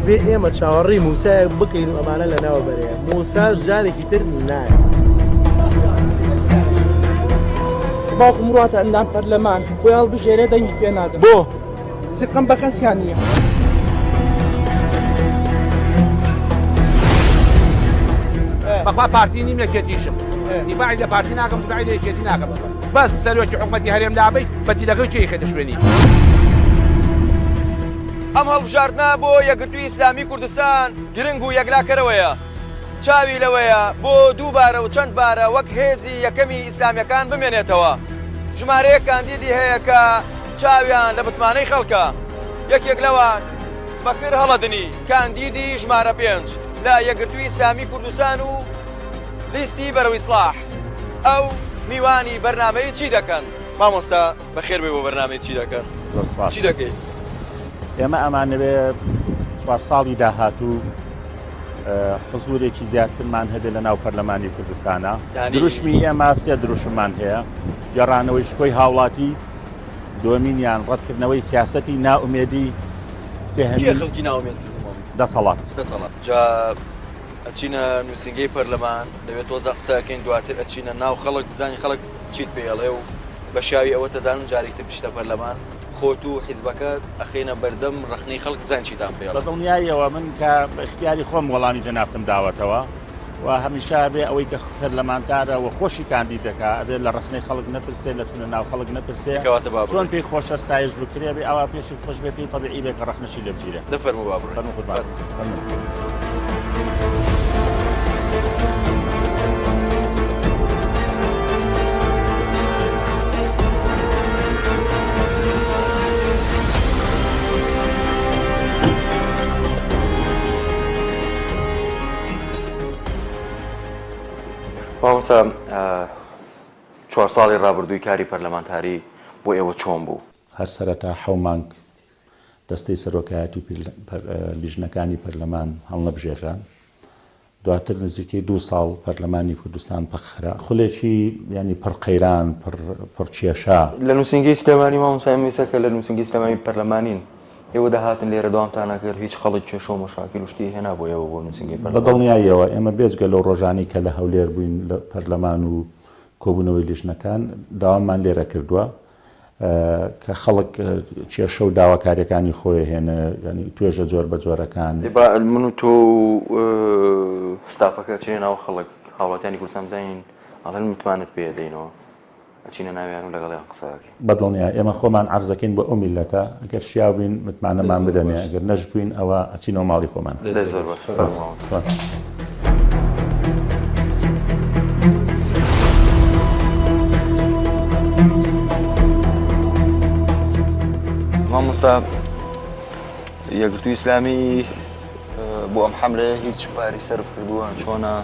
بێ ئێمە چاوەڕی موسایەک بکەین و ئەمانە لە ناوە بەرەیە موساش جارێکی تر نایە باوکم ڕاتە ئەندام پەرلەمان خۆیان بژێرە دەنگی پێ نادە بۆ سیقەم بەکەسیان نییە. بەخوا پارتی نیم لەکێتیشم دیفاعی لە پارتی ناکەم دیفاعی لە یەکێتی ناکەم بەس سەرۆکی حکومەتی هەرێم لابەی بەتیلەکەی چی خێتە شوێنی ئەم هەڵبژاردنە بۆ یەکگرتووی ئیسلامی کوردستان گرنگ و یەکلاکەرەوەیە چاوی لەوەیە بۆ دووبارە و چەند بارە وەک هێزی یەکەمی ئیسلامیەکان بمێنێتەوە ژمارەیە کاندیدی هەیە کە چاویان لە متمانەی خەڵکە، یەکێک لەوان بەکر هەڵەدنی، کاندیدی ژمارە پێنج لە یەکگرتووی ئیسلامی کوردستان و لیستی بەرەو ئیسڵاح، ئەو میوانی بەرنامەی چی دەکەن؟ مامۆستا بەخێربێی بۆ بەرنامەی چی دەکەن زۆر سوپاس چی دەکەی؟ ئێمە ئەمانەوێ چوار ساڵی داهاتوو حزورێکی زیاترمان هەبێ لە ناو پەرلەمانی کوردستانە دروشمی ئێمە سێ دروشممان هەیە گێڕانەوەی شکۆی هاوڵاتی دومینیان ڕەتکردنەوەی سیاستی ناومێدی سێهەمخلکی ناومێت دەسەڵات دەسەڵات جا ئەچینە نووسنگی پەرلەمان لەوێت تۆزە قسەکەین دواتر ئەچینە ناو خەڵک بزانانی خەڵک چیت پێڵێ و بە شاوی ئەوە تەزانم جارێکتر پشتە پەرلەمان خۆت و حیزبەکە ئەخینە بەردەم ڕخنەی خەڵک بزان چیتان پێ بە دڵنیاییەوە من کە بە اختیاری خۆم وەڵامی جەنابتم داوەتەوە و هەمیشە ئەبێ ئەوەی کە پەرلەمانتارە و خۆشی کاندید دەکا ئەبێ لە ڕخنەی خەڵک نەترسێ لە چونە ناو خەڵک نەترسێ کەواتە با چۆن بڕۆین پێی خۆشە ستایش بکرێ بێ ئاوا پێشی خۆش بێ پێی تەبیعی بێ کە ڕەخنەشی لێ بگیرێ دە فەرموو با بڕۆین فەرموو قوربان فەرموو فەرموو مامۆستا چوار ساڵی ڕابردووی کاری پەرلەمانتاری بۆ ئێوە چۆن بوو؟ هەر سەرەتا حەو مانگ دەستەی سەرۆکایەتی لیژنەکانی پەرلەمان هەڵنەبژێرران، دواتر نزیکەی دوو ساڵ پەرلەمانی کوردستان پەکخرا. خولێکی یانی پڕ قەیران، پڕ کێشە. لە نووسینگەی سلێمانی مامۆستا ئێمە ئیستا کە لە نووسینگەی سلێمانی پەرلەمانین، ئێوە دەهاتن لێرە دەوامتان ئەکرد، هیچ خەڵک کێشە و مەشاکیل و شتی هێنابوو ئێوە بۆ نووسینگەی پەرلەمان؟ بە دڵنیاییەوە، ئێمە بێجگە لەو ڕۆژانەی کە لە هەولێر بووین لە پەرلەمان و کۆبوونەوەی لیژنەکان، دەواممان لێرە کردووە کە خەڵک کێشە و داواکارییەکانی خۆی هێنا، یانی توێژە جۆربەجۆرەکان. ئێ با من و تۆ و ستافەکە چێینە ناو خەڵک، هاوڵاتیانی کوردستان بزانین ئەڵێن متمانەت پێ دەینەوە. ئەچینە ناویان و لەگەڵیان قسە ئەکەین. بەدڵنیای ئێمە خۆمان عەرزەکەین بۆ ئەو میللەتە ئەگەر شیاو بین متمانەمان بدەنێ ئەگەر نەشبوین ئەوە ئەچینەوە ماڵی خۆمان. دەست زۆر باش سپاس مامۆستا. مامۆستا یەکگرتووی ئیسلامی بۆ ئەم حەملەیە هیچ پاری سەرف کردووە چۆنە؟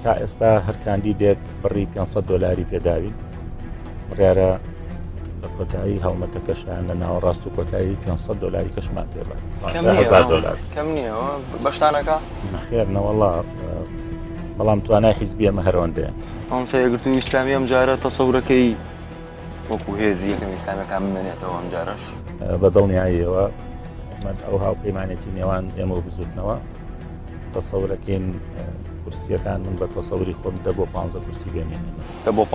تا ئێستا هەر کاندیدێک بڕی پێ سەد دۆلاری پێداوین بڕیارە لە کۆتایی هەڵمەتەکەشیان لە ناوەڕاست و کۆتایی پێ سەد دۆلاری کەشمان پێ بە کەم نییە، هەزار دۆلار کەم نییە ئەوە بەشتانەکە نەخێر نەوەڵا بەڵام توانای حیزبیەمە هەرەوەندەیە ئەم سەیەگرتو ئیسلامی ئەم جارە تەسەورەکەی وەکو هێزی یەکەم ئیسلامیەکان بمێنێتەوە ئەمجارش بە دڵنیاییەوە من ئەو هاوپەیمانێتی نێوان ئێمە و بزوتنەوە تەسەورەکەین کورسیەکان من بە تەسەوری خۆم دە بۆ پ کورسی بێنێن دە بۆ پ.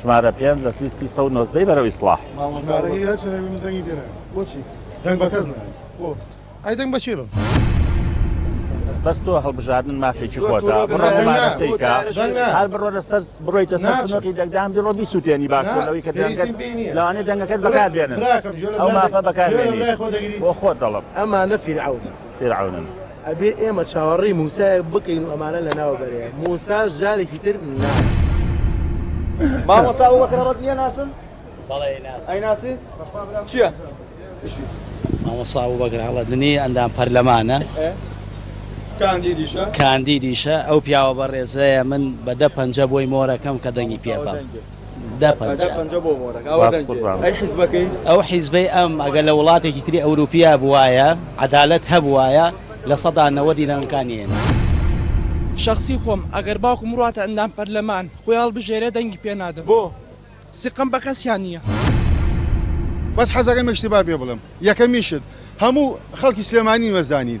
ژمارە پێنج لە لیستی سەد و نۆزدە ی بەرەو ئیسڵاح. بەس تۆ هەڵبژاردن مافێکی خۆتە بڕۆ مومارەسەی کە هەر بڕۆ لەسەر بڕۆیتە سەر سندوقی دەنگدان بیڕۆ بیسوتێنی باشترە لەوەی کە دەنگت لەوانەیە دەنگەکەت بەکار بێنن ئەو مافە بەکار بێنی بۆ خۆت دەڵێم. ئەبێ ئێمە چاوەڕێی موسایەک بکەین و ئەمانە لەناو بەرێ موساش جارێکی تر نا. مامۆستا ئەبو بەکر ڕەدنیە ناسن؟ بەڵێ ئەیناسی. ئەیناسی؟ بەخوا برام چییە؟ مامۆستا ئەبو بەکر ڕەدنی ئەندام پەرلەمانە. کاندیدیشە؟ کاندیدیشە. ئەو پیاوە بەڕێزەیە من بە دە پەنجە بۆی مۆرەکەم کە دەنگی پێ بەم. دە پەنجە. ئەو حیزبەی ئەم ئەگەر لە وڵاتێکی تری ئەوروپیا بوایە عەدالەت هەبوایە لە سەدا نەوەدی دەنگەکانی ئێمە. شەخسی خۆم ئەگەر باوکم بڕواتە ئەندام پەرلەمان خۆی هەڵبژێرێ دەنگی پێ نادەم بۆ؟ سیقەم بە کەسیان نیە. بەس حەزەکەم ئیشتبا پێ بڵێم یەکەمیشت هەموو خەڵکی سلێمانی وەزانین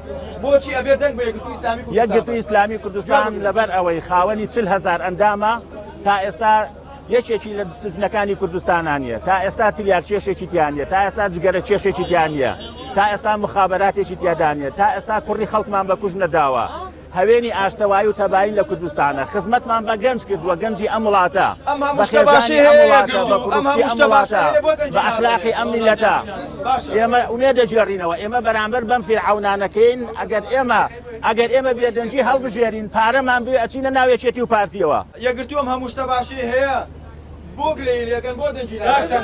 بۆچی ئەبێ دەنگ بە یەکگرتووی ئیسلامی کوردستان یەکگرتووی ئیسلامی کوردستان لەبەر ئەوەی خاوەنی چل هەزار ئەندامە تا ئێستا یەکێکی لە سزنەکانی کوردستانان نیە تا ئێستا تریاک کێشێکی تیانە تا ئێستا جگەرە کێشێکی تیانە تا ئێستا مخابراتێکی تیادانە تا ئێستا کوڕی خەڵکمان بە کوژ نەداوە هەوێنی ئاشتەوای و تەبایی لە کوردستانە خزمەتمان بە گەنج کردووە گەنجی ئەم وڵاتە بە خێزانی ئەم وڵاتە بە کوڕی ئەم وڵاتە بە ئەخلاقی ئەم میلەتە ئێمە ئومێد دەگێڕینەوە، ئێمە بەرامبەر بەم فیرعەونانەکەین، ئەگەر ئێمە ئەگەر ئێمە بێدەنگی هەڵبژێرین پارەمان بوێ ئەچینە ناو یەکێتی و پارتیەوە. یەکگرتوو ئەم هەموو شتە باشەی هەیە بۆ گلەیی لێکەن بۆ دەنگی ناکەن.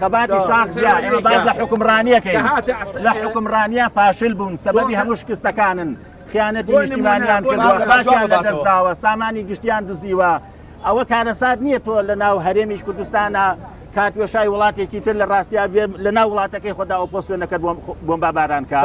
خەباتی شاخ جیا ئێمە باز لە حکومڕانیەکەی لە حکومڕانیە فاشل بوون سەبەبی هەموو شکستەکانن خیانەتی نیشتیمانیان کردوە خاچیان لە دەستداوە سامانی گشتیان دزیوە ئەوە کارەسات نییە تۆ لە ناو هەرێمیش کوردستانە کاتوێشای وڵاتێکی تر لە ڕاستیا لە ناو وڵاتەکەی خۆدا ئۆپۆسیۆنەکە بۆم باباران کار.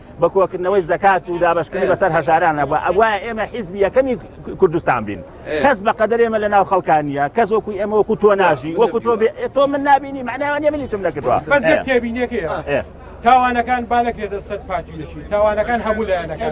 بە کۆکردنەوەی زەکات و دابشکردنی بەسەر هەژاران نەبووە ئەوە ئێمە حیزبی یەکەمی کوردستان بین کەس بە قەدەر ئێمە لە ناو خەڵکانیە کەس وەکوی ئێمە وەکو تۆ ناژی وەکو تۆ تۆ من نبینی معناوانە منی چم نەکردوە بەس تێبینەکەی تاوانەکان با نەکرێتە سەر پارتی لەشی تاوانەکان هەموو لایەنەکان